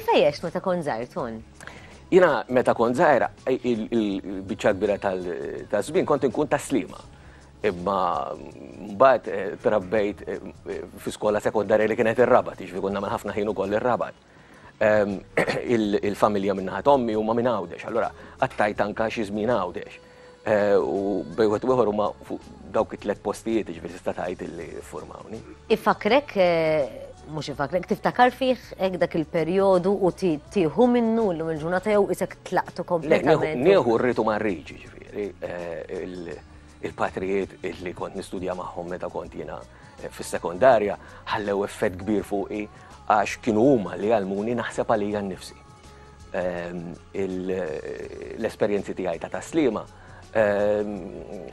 Kif għajjex meta kont żgħir ton? Jiena meta kont żgħir il-biċċa kbira tal-żmien kont inkun ta' slima. Imma mbagħad eh, trabbejt eh, fi skola sekondarja li kienet ir-rabat, jiġri konna minn ħafna ħin ukoll ir-rabat. Ehm, il-familja minnaħat ommi huma minn Għawdex, allura għattajt anka xi żmien Għawdex. U bejn wieħed u ieħor huma fuq dawk it-tliet postijiet ġifieri tista' tgħid illi ffurmawni. Ifakrek mhux ifakrek, tiftakar fih hekk dak il-perjodu u tieħu minnu llum il-ġurnata jew isek tlaqtu kompletament. Nieħu rritu ma rridx, ġifieri, eh, il-patrijiet li kont nistudja magħhom meta kont jiena eh, fis-sekondarja ħallew effett kbir fuqi għax kienu huma li għalmuni naħseb għalija nnifsi. ehm, l-esperjenzi tiegħi ta' taslima ehm,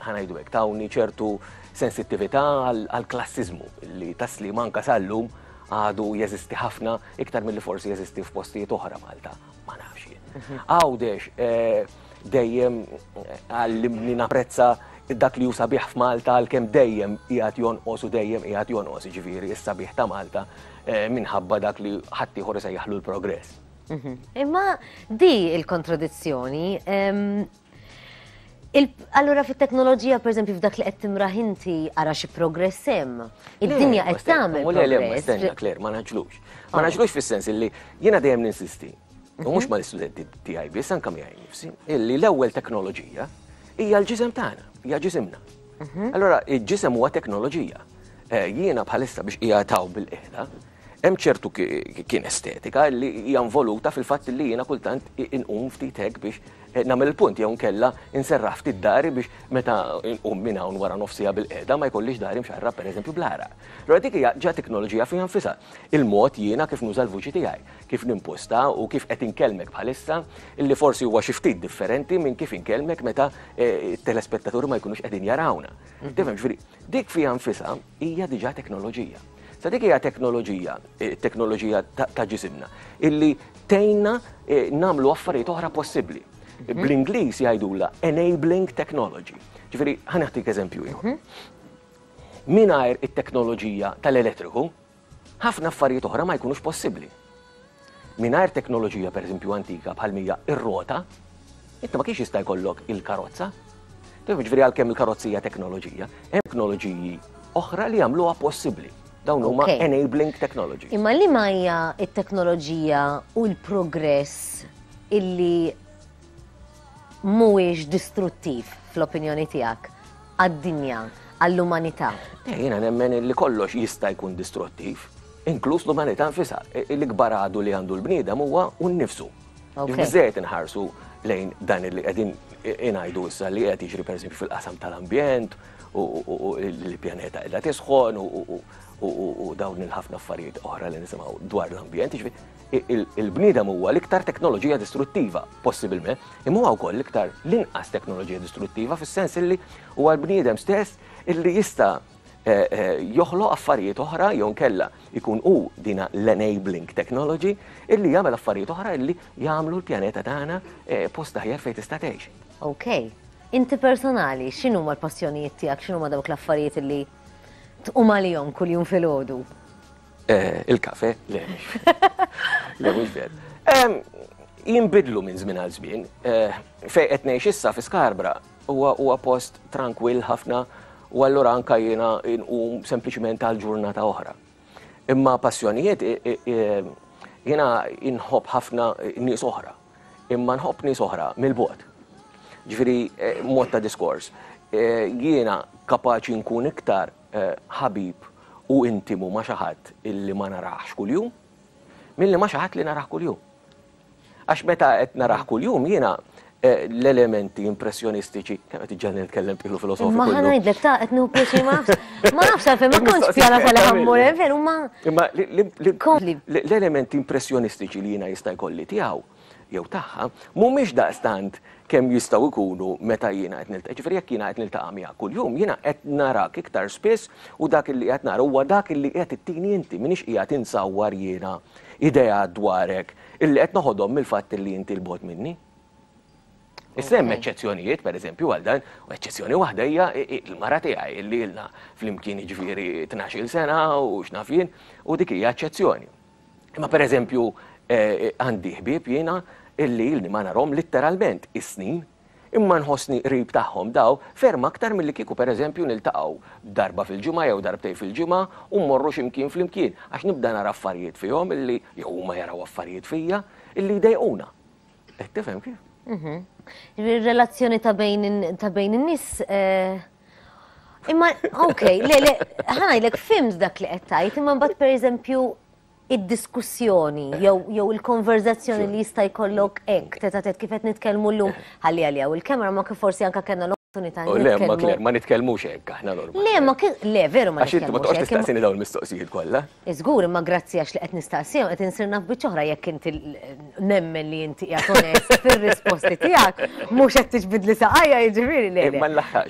ħanajdu hekk tawni ċertu sensittività għal klassizmu li taslima anka sallum għadu jeżisti ħafna iktar mill-li forsi jeżisti f'postijiet oħra Malta. Ma nafx jien. Mhm. Għawdex eh, dejjem eh, għallimni naprezza dak li jusa biħ f'Malta għal-kem dejjem jgħat jonqos u dejjem jgħat jonqos ġviri, issa biħ ta' Malta minħabba dak li ħaddieħor isejjaħlu l-progress. Imma di l-kontradizzjoni, Allura fit-teknoloġija, per eżempju, f'dak li qed timraħ inti ara xi progress hemm. Id-dinja qed tagħmel. U le ma stenna Claire, ma naġlux. Ma naġlux fis-sens illi jiena dejjem ninsisti. U mhux mal-istudenti tiegħi biss anke miegħi nifsi, illi l-ewwel teknoloġija hija l-ġisem tagħna, hija ġisimna. Allura il-ġisem huwa teknoloġija. Jiena bħalissa biex qiegħed hawn bil-qiegħda, hemm ċertu kinestetika li hija involuta fil-fatt li jiena kultant inqum ftit hekk biex nagħmel il-punt jew inkella inserraħ ftit dahri biex meta nqum minn hawn wara nofs siegħa bil-qiegħda ma jkollix dahri mxarrab pereżempju bl-għaraq. Allura dik hija ġa teknoloġija fiha nfisha. Il-mod jiena kif nuża l-vuċi tiegħi. kif nimposta u kif qed inkellmek bħalissa, li forsi huwa xi ftit differenti minn kif inkellmek meta t-telespettaturi ma jkunux qegħdin jarawna. Tifhem, jiġifieri, dik fiha nfisha hija diġà teknoloġija. Sa dik hija teknoloġija, teknoloġija ta' ġisimna, illi tgħinna nagħmlu affarijiet oħra possibbli. Bl-Ingliż jgħidulha enabling technology. Ġifieri, ħa nagħtik eżempju ieħor. Mingħajr it-teknoloġija tal-elettriku, Ħafna affarijiet oħra ma jkunux possibbli. Mingħajr teknoloġija pereżempju antika bħal mija r-rota, inti ma kienx jista' jkollok il-karozza. Ġifieri għalkemm il-karozza hija teknoloġija, hemm teknoloġiji oħra li jagħmluha possibbli. Dawn huma enabling technology. Imma li ma hija t-teknoloġija u l-progress illi mhuwiex distruttiv fl-opinjoni tiegħek għad-dinja, għall-umanità? Eh, jiena nemmen li kollox jista' jkun distruttiv, inkluż l-umanità nfisha. E, e, l-ikbar għadu li għandu l-bniedem huwa u nnifsu. Biżejjed inħarsu lejn dan li qegħdin inajdu issa li qed jiġri pereżempju fil-qasam tal-ambjent u l-pjaneta illa tisħon u dawn il-ħafna affarijiet oħra li nisimgħu dwar l-ambjent. Jiġifieri Il-bniedem huwa l-iktar teknoloġija distruttiva, possibilment, imma huwa wkoll l-iktar l-inqas teknoloġija distruttiva fis-sens illi huwa l-bniedem stess illi jista' eh, eh, joħloq affarijiet oħra jew kella ikun hu dina l-enabling technology illi jagħmel affarijiet oħra illi jagħmlu l-pjaneta tagħna eh, post aħjar fejn tista' tgħix. Okay. Inti personali, xinu ma l-passjonijiet tijak, xinu ma dawk l-affarijiet li tqum għalihom kull-jum fil-ħodu? Il-kafè? Le, le mhux ver. Jinbidlu minn żmien għal żmien. Fejn qed ngħix issa fi Scarborough huwa post trankwill ħafna u allura anke jiena nqum sempliċement għal ġurnata oħra. Imma passjonijiet jiena nħobb ħafna nies oħra, imma nħobb nies oħra mill-bogħod. Ġifieri mod ta' diskors, jiena kapaċi nkun iktar ħabib u intimu ma' xi ħadd li ma narahx kuljum milli ma' xi ħadd li narah kuljum. Għax meta qed narah kuljum jiena l-elementi impressjonistiċi, kemm qed iġġenni nitkellem b'qilu filosofiku. Imma ħa ngħidlek ta' qed nieħu pjaċir ma nafx. Ma nafx għalfejn ma kontx pjana sa li ħa mmur hemm veru ma. Imma l-elementi impressjonistiċi li jiena jista' jkolli tiegħu jew tagħha, mhumiex daqstant kemm jistgħu jkunu meta jiena qed niltaqa'. Jiġifieri jekk jiena qed niltaqa' miegħek kuljum, jiena qed narak iktar spiss u dak li qed nara huwa dak li qed ittini inti, m'iniex qiegħed insawwar jiena ideat dwarek illi qed noħodhom mill-fatt li inti 'l bogħod minni. Issa hemm eċċezzjonijiet, pereżempju, għal dan, u eċċezzjoni waħda hija l-mara tiegħi illi ilna flimkien jiġifieri tnax-il sena u x'naf jien, u dik hija eċċezzjoni. Imma pereżempju għandi ħbieb jiena illi ilni ma narhom litteralment is-snin, imma nħossni qrib tagħhom daw ferm aktar milli kieku pereżempju niltaqgħu darba fil-ġimgħa jew darbtejn fil-ġimgħa u mmorru xi mkien flimkien għax nibda nara affarijiet fihom illi jew huma jaraw affarijiet fija illi jdejquna. Qed tifhem kif? Ir-relazzjoni ta' bejn in-nies Imma, ok, le, le, ħanajlek fimt dak li qed tgħid, imma mbagħad pereżempju id-diskussjoni jew il-konverzazzjoni li jista' jkollok hekk teta' tet kif qed nitkellmu llum ħalli għalija u l-kamera ma kif forsi anke kellna l-opportunità oh, nitkellmu. Le, ma nitkellmux hekk aħna normal. Le, ma le veru ma nitkellmux. Għax inti ma toqgħodx tistaqsini dawn il-mistoqsijiet kollha. Żgur, imma grazzi għax li qed nistaqsihom qed insir naf biċċa oħra jekk inti nemmen li inti qiegħed onest fir-risposti tiegħek, mhux qed tiġbidli saqajja jiġifieri le. Ma nlaħħaqx.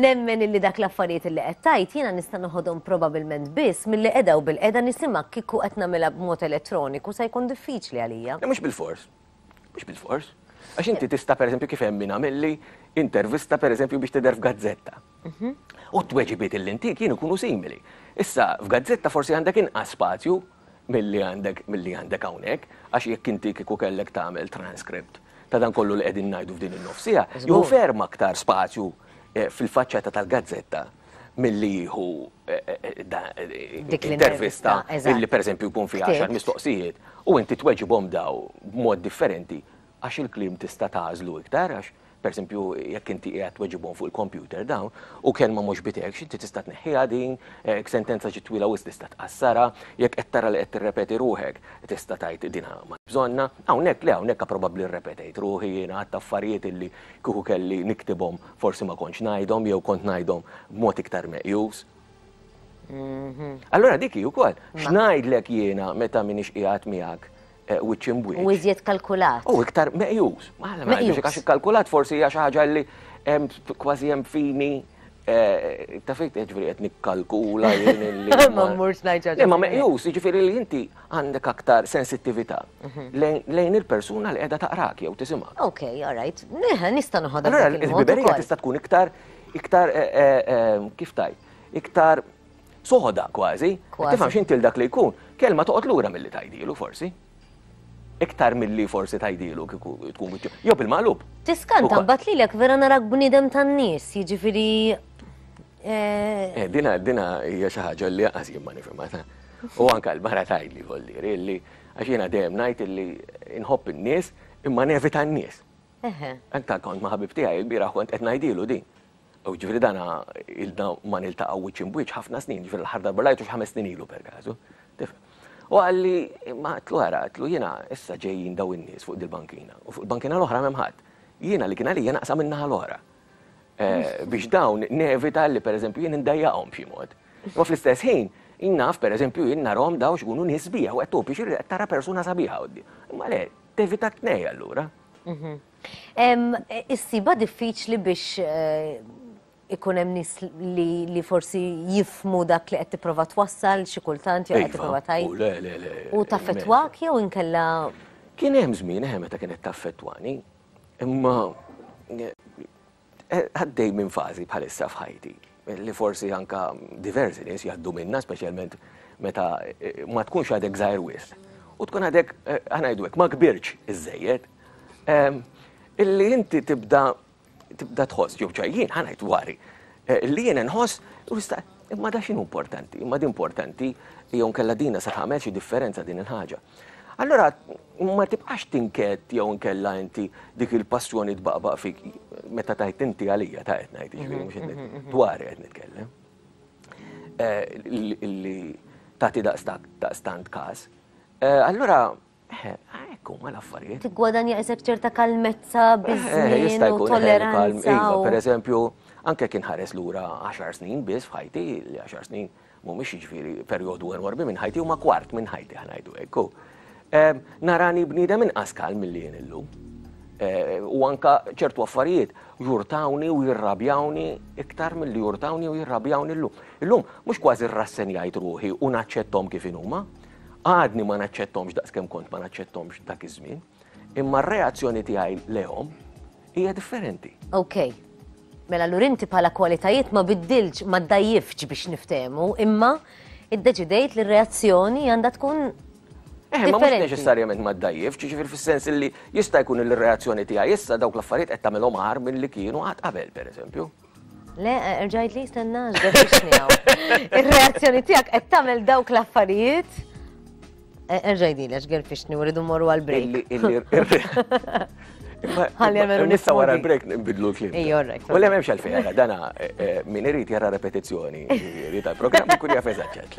Nemmen illi dak l-affarijiet li qed tgħid jiena nista' noħodhom probabilment biss milli qiegħda u bilqiegħda nisimgħek kieku qed nagħmilha b'mod elettroniku se jkun diffiċli għalija. Le mhux bilfors, Mhux bilfors. Għax inti tista' pereżempju kif hemm min għamilli intervista pereżempju biex tidher f'gazzetta. Mhm. U t-tweġibiet li intik jien ikunu simili. Issa f'gazzetta forsi għandek inqas spazju milli għandek milli għandek hawnhekk, għax jekk inti kieku kellek tagħmel transcript ta' dan kollu li qegħdin ngħidu f'din in-nofs siegħa, jieħu ferm aktar spazju eh, fil-faċċata tal-gazzetta milli jieħu intervista li pereżempju jkun fiha għaxar mistoqsijiet u inti tweġibhom dawn b'mod differenti għax il-kliem tista' tagħżlu iktar għax pereżempju jekk inti qiegħed tweġibhom fuq il-kompjuter dawn u kelma mhux b'idejk inti tista' tneħħiha din, jekk sentenza ġiet twila wisq tista' tqassarha, jekk qed tara li qed tirrepeti ruħek tista' tgħid din m'għandx bżonnha. Hawnhekk le, hawnhekk probabbli rrepetejt ruħi jiena għadt affarijiet li kieku kelli niktibhom Forsi ma kontx ngħidhom jew kont ngħidhom b'mod iktar meqjus. Allura dik hi wkoll. X'ngħidlek jiena meta m'iniex qiegħed miegħek eh, wiċċ imbwiċċ. U iżjed kalkulat. U iktar meqjus. Mela, mela, meqjus. Għax ikkalkulat forsi hija xi ħaġa li kważi hemm fini eh, ta' fejn ġifieri qed nikkalkula jien li. Ma mmurx ngħid ġaġa. Ma meqjus, jiġifieri li inti għandek aktar sensittività lejn il-persuna li qiegħda taqrak jew tisimgħek. Ok, all right. Neħe, nista' noħodha. Allura l-ħbiberija tista' tkun iktar iktar eh, eh, eh, kif tajt, iktar soħda kważi. Tifhem x'inti dak li jkun, kelma toqgħod lura milli tajdilu forsi iktar mill-li forsi tajdilu kiku tkun għitju. Jo bil-maqlub. Tiskanta, bat li l-ek vera narak bnidem tan-nis, jġifiri Dina, dina hija xi ħaġa li għaż jien ma nifhimha. U anke l-mara tgħidli vollieri illi għax jiena dejjem ngħid illi nħobb in-nies imma nevita n-nies. Anke kont ma' ħabib tiegħi lbieraħ kont qed ngħidilu din. U ġifieri dana ilna ma niltaqgħu wiċċ imb wiċċ ħafna snin, ġifieri l-aħħar darba rajtu xi ħames snin ilu perkażu. Tifhem? U qalli, imma għedtlu ara, għedtlu jiena issa ġejjin dawn in-nies fuq dil-bankina u fuq il-bankina l-oħra m'hemm ħadd. Jiena li kien għalija naqsam in-naħa l-oħra. biex dawn nevita li pereżempju jien indajjaqhom b'xi mod. Imma fl-istess ħin, jien naf pereżempju jien narhom dawn x'kunu nies sbieħ u qed tgħob biex qed tara persuna sabiħa quddiem. Imma le, tevita t-tnejn allura. Issibha diffiċli biex ikun hemm nies li forsi jifhmu dak li qed tipprova twassal xi kultant jew qed tipprova tgħid. Iva, u le, le, le. U taffettwak jew inkella. Kien hemm żmien eħe meta kienet taffettwani. Imma għaddej minn fażi bħalissa f'ħajti li forsi anka diversi nies jgħaddu minna, speċjalment meta ma tkunx għadek żgħir wisq. U tkun għadek, ħanajdu hekk, ma kbirtx iżżejjed. Illi inti tibda tibda tħoss, jew ċaj jien ħanajt wari, li jien inħoss, imma da x'inhu importanti, imma di importanti, jew inkella dina se tagħmel xi differenza din il-ħaġa. Allora ma tibqax tinket jew nkella inti dik il-passjoni tbaqbaq fik meta tajt inti għalija ta' qed ngħid ġifieri mhux qed mm-hmm. dwar qed nitkellem. Eh, li tagħti daqstant każ. Eh, allura eh, Ekku, ma l-affarijiet. Tigwadanja isek ċerta kalmezza, bizzin, u tolleranza. Iva, per eżempju, anke kien ħares lura 10 snin biss f'ħajti, li 10 snin mhumiex jiġifieri perjodu enormi minn ħajti, huma kwart minn ħajti ħa ngħidu hekk, u narani bniedem inqas kal milli jien illum. U anka ċertu affarijiet jurtawni u jirrabjawni iktar milli jurtawni u jirrabjawni llum. Illum mhux kważi rrassenjajt ruħi u naċċettom kif inhuma, għadni ma naċċettomx daqskemm kont ma naċċettomx dak iż-żmien. Imma r-reazzjoni tiegħi lejhom hija differenti. Ok. Mela allura inti bħala kwalitajiet ma biddiltx, ma ddgħajjiftx biex niftehmu, imma iddeċidejt li r-reazzjoni għandha tkun Eh, ma mhux neċessarjament ma ddajjif, ġifier fis-sens li jista' jkun il-reazzjoni tiegħi issa dawk l-affarijiet qed tagħmilhom aħar milli kienu qatt qabel, pereżempju. Le, erġa' jgħidli jistenna għax biex Ir-reazzjoni tiegħek qed tagħmel dawk l-affarijiet. E, erġa' jgħidli għax gerfixni u rridu morru għal break. Għalli għamelu nissa wara l-break nbidlu l-klim. Ejja, orrek. U l-għem għalfejn, dana e, e, min irrit jara repetizjoni, jirrit għal-program, kun jafezat ċetli.